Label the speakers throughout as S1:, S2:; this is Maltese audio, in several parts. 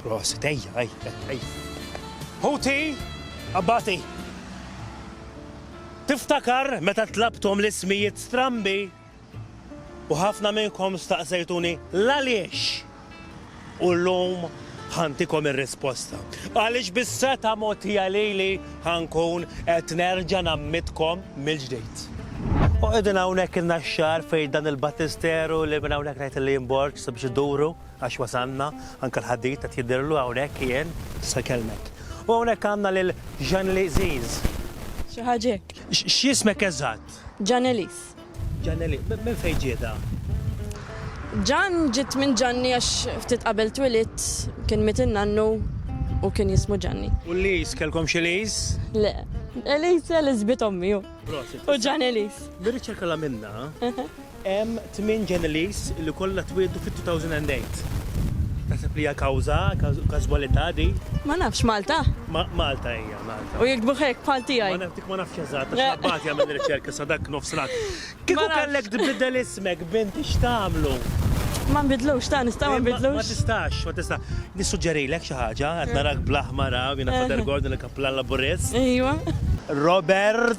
S1: Prosit, ejja, ejja, ejja. Ħuti, abbati, tiftakar meta tlabthom l-ismijiet strambi u ħafna minnkom staqsejtuni l-għaliex u l-lum ħantikom ir-risposta. Għaliex bis-seta mogħtija lili ħankun qed nerġa' nammitkom mill-ġdid. U qegħdin hawnhekk il-naxxar fejn dan il-battisteru li minn hawnhekk ngħid li jinborġ sabiex iduru. Għax wasalna, anke l-ħadid qed jidhirlu hawnhekk qiegħed. Tista' kellmek. U hawnhekk għandna lil Jeanely Ziz. Xi
S2: ħaġa hekk. X'jismek eżatt?
S1: Jeanelyz.
S2: Jeanely,
S1: minn fejn ġietha?
S2: Jean ġiet minn Ġanni għax ftit qabel twilidt kien miet in-nannu u kien jismu Ġanni. U Liz, kellkom
S1: xi Liz? Le.
S2: Eliz, Eliz bint ommi hu. Prosit. U Jeanelyz. Mir-riċerka li għamilna,
S1: Hemm tmien Genelis li kollha twieldu fit-2008. Taħseb li hija kawża, każwalità din? Ma nafx, Malta?
S2: Malta hija, Malta.
S1: U jiktbuh hekk, bħal
S2: tiegħi? Ma naf, dik ma nafx eżatt,
S1: għax l-Abbati jagħmel ir-riċerka sa dak nofsnat. Kieku kellek tbiddel ismek b'inti x'tagħmlu? Ma nbiddlux,
S2: ta' nista' ma nbiddlux? Ma tistax, ma tista'.
S1: Nissuġġerilek xi ħaġa, qed narak bl-aħmar hawn, jiena Father Gordon il-Kappulan Laburist. Ejwa.
S2: Robert.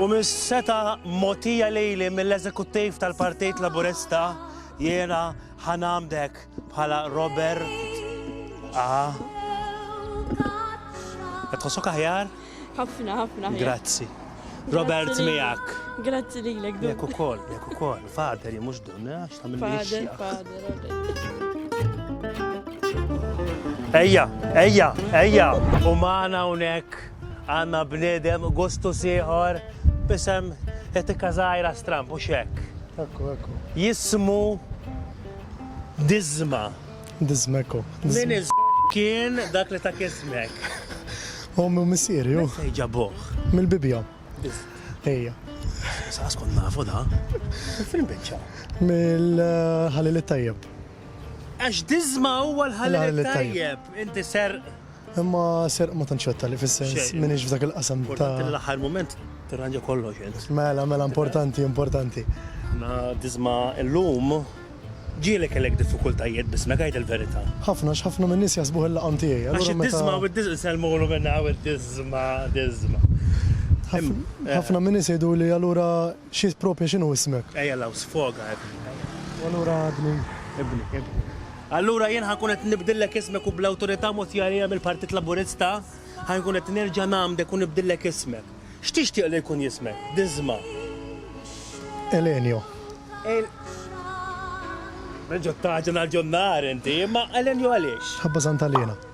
S1: U mis-setgħa mogħtija lili mill-Eżekuttiv tal-Partit Laburista jiena ħa nagħmdek bħala Robert A. Qed tħossok aħjar? Ħafna, ħafna.
S2: Grazzi.
S1: Robert miegħek. Grazzi lilek.
S2: Jekk ukoll, jekk ukoll.
S1: Fader, jien mhux dun, eh, għax tagħmel Fader, fader. Ejja, ejja, ejja, u maħna unek Għandna bniedem gustus ieħor b'isem etika żgħira stramb mhux hekk? Ekku, ekku.
S3: Jismu
S1: Diżma. Diżma ekku.
S3: Min iż
S1: kien dak li tak ismek?
S3: Ommi u missieri hu. Fejn ġabuh?
S1: Mill-bibja.
S3: Ejja. Saqas
S1: kont nafu da. Fejn biċċa? Mill-ħalil
S3: it-tajjeb. Għax
S1: Diżma huwa l-ħalil it-tajjeb. Inti ser Imma
S3: serq ma tantx wetta li fis-sens minix f'dak il-qasam ta'. Importanti li l-aħħar mument
S1: tirranġa kollox int. Mela, mela importanti,
S3: importanti. Na
S1: disma' llum ġieli kellek diffikultajiet b'ismek għid il-verità. Ħafna għax ħafna min-nies
S3: jaħsbuh il-laqam tiegħi. Għax id-disma' u d-disma'
S1: jsellmulu minn hawn id-disma' disma'.
S3: Ħafna min-nies jgħiduli allura Xi proprja x'inhu ismek? Ejja 'l hawn sfoga
S1: ibni. U allura
S3: ibni? Ibni,
S1: ibni. Allura jien ħa nkun qed nibdillek ismek u bl-awtorità mogħtija lija mill-Partit Laburista ħa nkun qed nerġa' ngħammdek u nibdillek ismek. X'tixtieq li jkun jismek? Diżma'.
S3: Elenio. El.
S1: Reġgħet tagħġen għal John Nahar inti, imma Elenio għaliex? Ħabba Sant'Alena.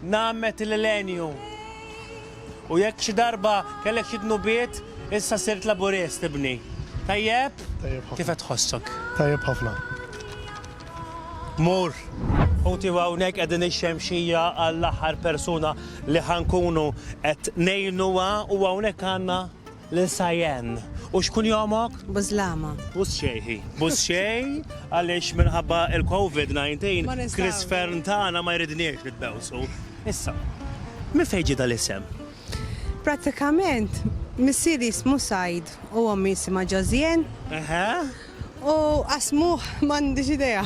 S1: Nagħmed il-milenju. U jekk xi darba kellek xi dnubiet, issa sirt Laburist, ibni. Tajjeb? Tajjeb ħafna. Kif qed tħossok? Tajjeb ħafna. Mur. Ħuti hawnhekk qegħdin ix-xemxija għall-aħħar persuna li ħankunu qed ngħinuha u hawnhekk għandna Lil Sajen. U x'kun jomok? Buslama.
S4: Buxxejhi.
S1: Buxxejh għaliex minħabba il-Covid 19 Chris Fearne tagħna ma jridniex nitbewsu. Issa, minn fejn ġie dal-isem?
S4: Prattikament, missieri jismu Sajd u ommi jisimha Ġożien. Eħe. U qasmuh m'għandix idea.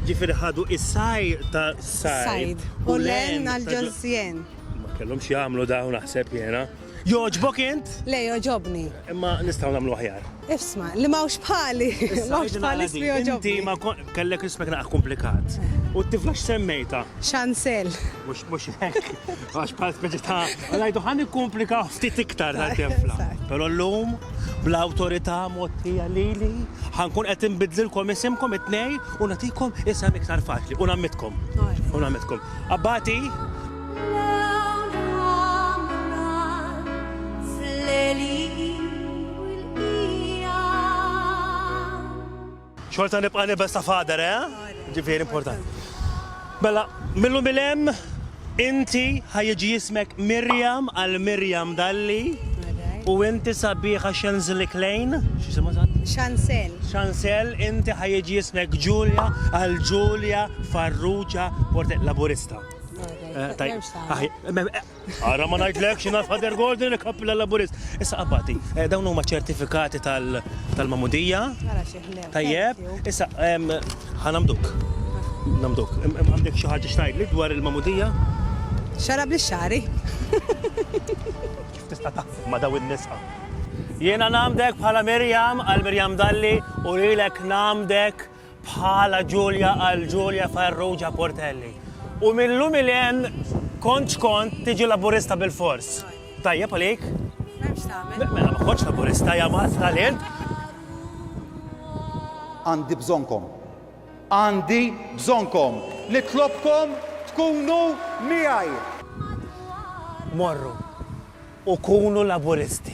S4: Ġifieri ħadu
S1: is-saj ta' Sajd u l-għen
S4: għal Ġożien. Ma kellhomx
S1: jagħmlu dawn naħseb jiena. Jogħġbok int? Le, jogħġobni.
S4: Imma nistgħu nagħmlu
S1: aħjar. Ifsma, li m'hawnx
S4: bħali. M'hawnx bħali li jogħġobni. Inti ma kellek
S1: rispek naqgħa komplikat. U t-tifla x'semmejta? Xansel.
S4: Mhux mhux
S1: hekk. Għax bħal speċi ta' ngħidu ħan ikkomplika ftit iktar ta' tifla. Però llum bl-awtorità mottija lili ħankun qed inbidlilkom isimkom it-tnej u nagħtikom isem iktar faċli u nammitkom. U nammitkom. Abbati? Xorta nibqa' nibes ta' fader, eh? Ġifieri importanti. Bella, mela, millum il-em, inti ħajġi jismek Mirjam għal Mirjam Dalli. U inti sabiħa xenzli klejn, xisima sa? Xansel.
S4: Xansel, inti
S1: ħajġi jismek Ġulja għal Ġulja Farrugia Portet Laburista. Għara ma najdlek xina Father Gordon li kappilla laburist. Issa qabbati, eh, dawn huma ċertifikati tal-mamudija. Tajjeb, issa ħanamduk. Namduk, għandek xi ħaġa xtajd li dwar il-mamudija? Xara
S4: bli xari.
S1: Kif tista' taħseb ma daw in-nisa? Jiena namdek bħala Mirjam għal Mirjam Dalli u lilek namdek Bħala Ġulja għal Ġulja Farrugia Portelli. U mil-lum 'il hemm kontx kont tiġi Laburista bil-fors. Tajjeb għalik? Mela x'tagħmel? Mela ma kontx Laburista ja mgħażżal int!
S5: Għandi bżonnkom. Għandi bżonnkom. Nitlobkom tkunu miegħi.
S1: Morru u kunu Laburisti.